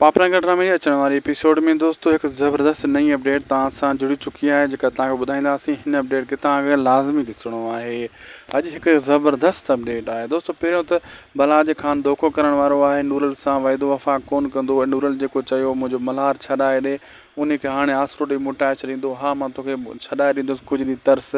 پاپلان ڪٽرا ۾ اچڻ واري ايپيسوڊ ۾ دوستو هڪ زبردست نئين اپڊيٽ توهان سان جڙي چڪي آهي جيڪا توهان کي ٻڌائينداسين هن اپڊيٽ کي توهان کي لازمي ڏسڻو آهي اڄ هڪ زبردست اپڊيٽ آهي دوستو پهريون ته بلاج خان دوکو ڪرڻ وارو آهي نورل سان وعدو وفا ڪون ڪندو ۽ نورل جيڪو چيو منهنجو ملهار ڇڏائي ڏي انهي کي هاڻي آسرو ڏئي موٽائي ڇڏيندو ها مان توکي ڇڏائي ڏيندس ڪجهه ڏينهن ترس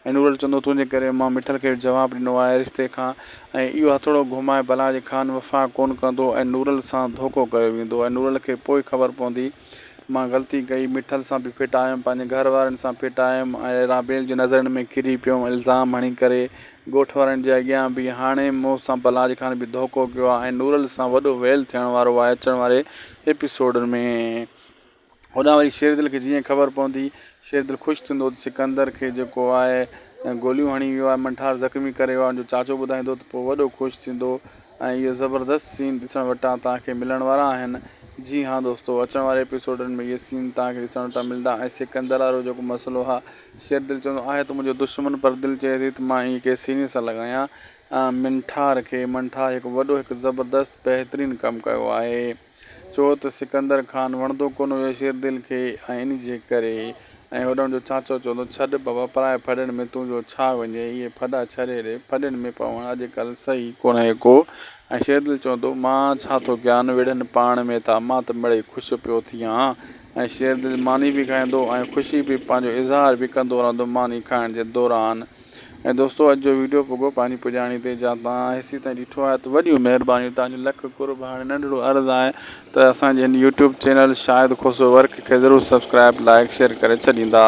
هنورل چندو تنهنجي ڪري مان مٺل کي جواب ڏنو آهي رشتي کان ۽ اهو هٿوڙو گهمائي بلا جي خان وفا ڪونه ڪندو ۽ نورل سان ڌوڪو ڪيو ويندو ۽ نورل کي پوء خبر پوندي مان غلطي ڪئي مٺل سان به ڦٽ آيم پنهنجي گهر وارين سان ڦٽ آيم ۽ رابيل جي نظرن ۾ ڪري پيم الزام هڻي ڪري ڳوٺ وارن جي اڳيان به هاڻي مون سان بلا جي خان به ڌوڪو ڪيو آهي ۽ نورل سان وڏو ويل ٿيڻ وارو آهي اچڻ واري ايپيسوڊن ۾ هوڏانهن وري شيردل کي جيئن ئي خبر پوندي، شيردل خوش ٿيندو ته سڪندر کي جيڪو آء گوليون هڻي ويو آهي، منٺار زخمي ڪري ويو آهي، ان جو چاچو ٻڌائيندو ته پوء وڏو خوش ٿيندو ۽ اهو زبردست سين ڏسڻ وٽان توهان کي ملڻ وارا آهن. جي هان دوستو! اچڻ واري ايپيسوڊن ۾ اهي سين توهان کي ڏسڻ وٽان ملندا ۽ سڪندر وارو جيڪو مسئلو ها، شيردل چوندو آهي ته منهنجو دشمن پر دل چئي ٿي ته مان ائين ڪنهن سيني سان لڳايان منٺار کي، منٺار هڪ وڏو هڪ زبردست بهترين ڪم ڪيو آهي. ڇو ته سڪندر خان وڻندو ڪونه هيو شيردل کي ۽ ان جي ڪري ۽ هوڏڻ جو چاچو چوندو، ڇڏ بابا پرائي ڦڏن ۾ تون جو ڇا وڃين، اهي ڦڏا ڇڏي ڏي، ڦڏن ۾ پوڻ اڄ ڪلهه صحيح ڪونهي ڪو ۽ شيردل چوندو، مان ڇا ٿو ڪيان، وڙهن پاڻ ۾ ٿا، مان ته مڙئي خوش پيو ٿي هان ۽ شيردل ماني به کائيندو ۽ خوشي به پنهنجو اظهار به ڪندو رهندو، ماني کائڻ جي دوران. ۽ دوستو اڄ جو ويڊيو پڳو پنهنجي پڄاڻي تي جا توهان هيسي تائين ڏٺو آهي ته وڏيون مهربانيون توهان جو لک قرب هاڻي ننڍڙو عرض آهي ته اسان جي هن YouTube channel Shahid Khoso work کي ضرور سبسڪرائب لائڪ شيئر ڪري ڇڏيندا.